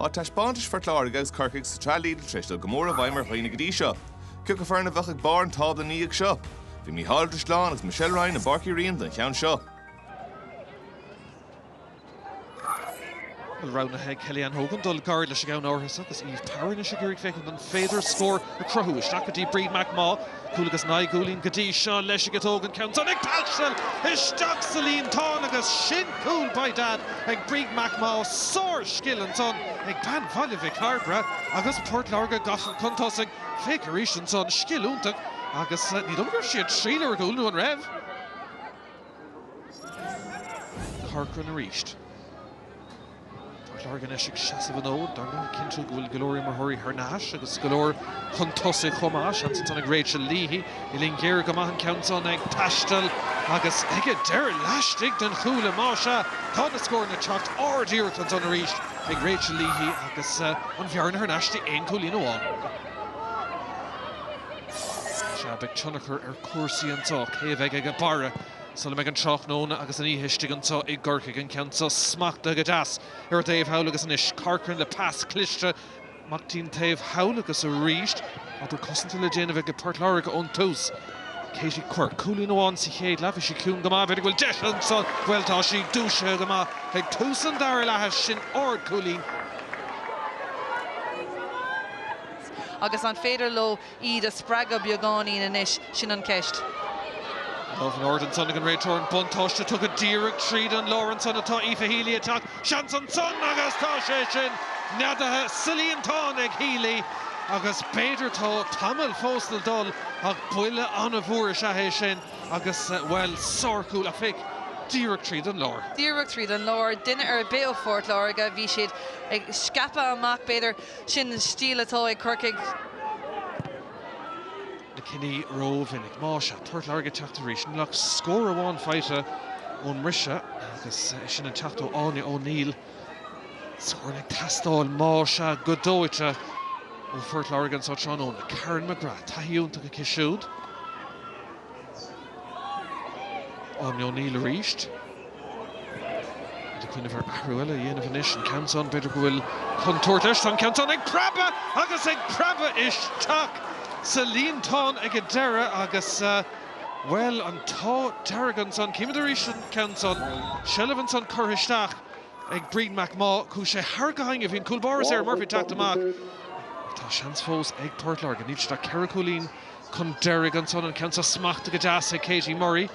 Tá taispeántas Phort Láirge agus Chorcaí sa tSraith Lidl tar éis dul go mór i bhfeidhm ar dhaoine go dtí seo. Cén fhoireann a bheadh ag barr an tábla ina dhiaidh seo? Beidh Mícheál Ó Drisleáin agus Michelle Ryan i bPáirc Uí Riain don cheann seo. Bhuel roghnaithe ag Kellyanne Hogan dul gairid leis an gceann áirithe seo agus Eve Power anois ag iarraidh féachaint an féidir scór a chruthú. Isteach go dtí Bríd McMaugh. Cúl agus Naoi gCúilín Go dtí seo leis ag Hogan an ceann-san ag taisteal isteach sa líontán agus sin cúl by dad ag Bríd McMaugh Sár scil ansan ag bean Bhaile Mhic Cairbre agus Port Láirge gafa chun tosaigh Féic arís ansan Scil iontach agus ní dóigh go raibh sí ag triail ar chúl nó an raibh? Corcoran arís. Port Láirge anois ag seasamh an fhóid, Darren, ag cinntiú go bhfuil go leor imreoirí thar n-ais agus go leor chun tosaigh chomh maith. Seans ansan ag Rachel Leahy. Uillinn ghéar go maith an ceann san ag taisteal agus aige deireadh laistigh den chuaille. Má sea, tá na scóranna ag teacht. Ard-iarracht ansan arís ag Rachel Leahy agus an bhearna thar n-ais dtí aon chúilín amháin. Sea, beidh tionchar ar chúrsaí anso. Cé a bheidh aige barra Sula mbeidh an tráthnóna agus an oíche istigh anseo i gCorcaigh, an ceann seo smachtaithe go deas ar an dtaobh thall agus anois Corcoran le pas cliste, amach dtí'n taobh thall agus arís, obair cosanta le déanamh ag Port Láirge ón tús. Katie Quirke, cúilín amháin sa chéad leath, bhí sí ciúin go maith, b'fhéidir go bhfuil deis ansan, bhuel tá sí dúisithe go maith ag tús an dara leatha, sin ard-chúilín. Agus an féidir leo iad a spreagadh beagáinín anois, sin an cheist. Lámh in airde ansan ag an réiteoir, an buntáiste tugtha díreach tríd an lár ansan tá Aoife Healy ag teacht, seans ansan agus tá sé sin neadaithe sa líontán ag Healy agus b'fhéidir tá tamall fós le dul ach buille an-mhór is ea é sin agus, bhuel, sárchúl, féic díreach tríd an lár. Díreach tríd an lár, duine ar bith ó Phort Láirge, bhí siad ag scaipeadh amach b'fhéidir, Sin stíl atá ag Corcaigh. na cinní rómhinic. Más ea, Port Láirge ag teacht arís. Níl ach scór amháin faighte ón mbriseadh agus é sin ag teacht ó Áine O'Neill. Scóranna ag teastáil, más ea, go dóite ó Phort Láirge anseo tráthnóna. Karen McGrath, taithí iontach aici siúd. Áine O'Neill arís. Iad ag cuimhneamh ar athrú eile a dhéanamh anois, an ceann san, b'fhéidir go bhfuil contúirt leis. Tá an ceann san ag preabadh agus ag preabadh isteach sa líontán ag an deireadh agus, bhuel, an t-ádh dearg ansan. Címid arís an ceann san. Seilbh ansan curtha isteach ag Bríd McMaugh. Chuaigh sé thar go hainnge. Bhí an cúlbáire Sarah Murphy ag teacht amach. Ach tá seans fós ag Port Láirge. Níl siad ach ceithre chúilín Chun deiridh ansan, an ceann seo smachta go deas ag Katie Murray.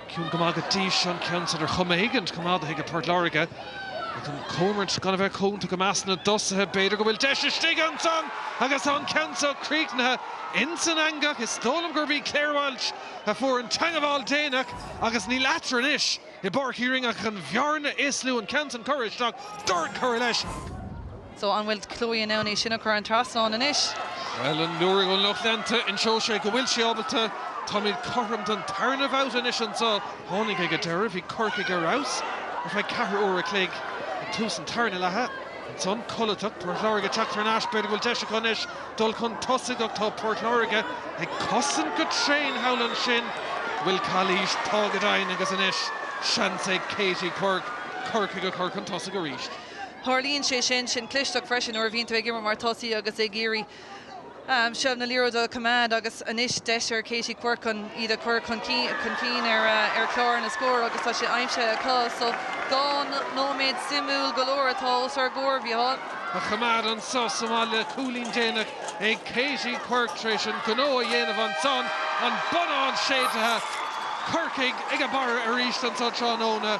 Ciúin go maith go dtí seo an ceann san ar chuma éigin coimeádaithe ag Port Láirge. Ach an chúmhaint, gan a bheith cúnta go measc na dtosaithe, b'fhéidir go bhfuil deis istigh ansan agus tá an ceann seo críochnaithe insan eangach. Is dóigh liom gurb í Claire Walsh a fuair an teangmháil déanach agus níl eatarthu anois i bPáirc Uí Rinn ach an bhearna is lú. An ceann san curtha isteach, dúirt tú leis. So, an bhfuil Chloe in ann é sin a chur thar an trasnán anois? Bhuel, an liú ón lucht leanta, inseoidh sé go bhfuil sí ábalta. Táimid cothrom don tarna babhta anois anseo. Tháinig ag an deireadh, bhí Corcaigh ar fheabhas ar feadh ceathrú uaire a chloig ag tús an tarna leatha. Ansan, codlatach, Port Láirge ag teacht thar n-ais. B'fhéidir go bhfuil deis acu anois dul chun tosaigh ach tá Port Láirge ag cosaint go tréan thall ansin. Bhuel, calaois, tá go deimhin, agus anois seans ag Katie Quirke Corcaigh a chur chun tosaigh arís. Tarlaíonn sé sin sin clisteacht freisin nuair a bhíonn tú ag imirt mar tosaí agus ag iarraidh seilbh na liathróide a choimeád agus anois deis ag Katie Quirke chun iad a chur chun cinn ar chlár na scór agus tá sé aimsithe acu so dhá nóiméad suimiúil go leor atá os ár gcomhair, a Mhichíl. a choimeád anso sa mbaile. Cúilín déanach ag Katie Quirke tar éis an gnó a dhéanamh ansan, an bonnán séidtithe, Corcaigh ag an mbarr arís anso tráthnóna.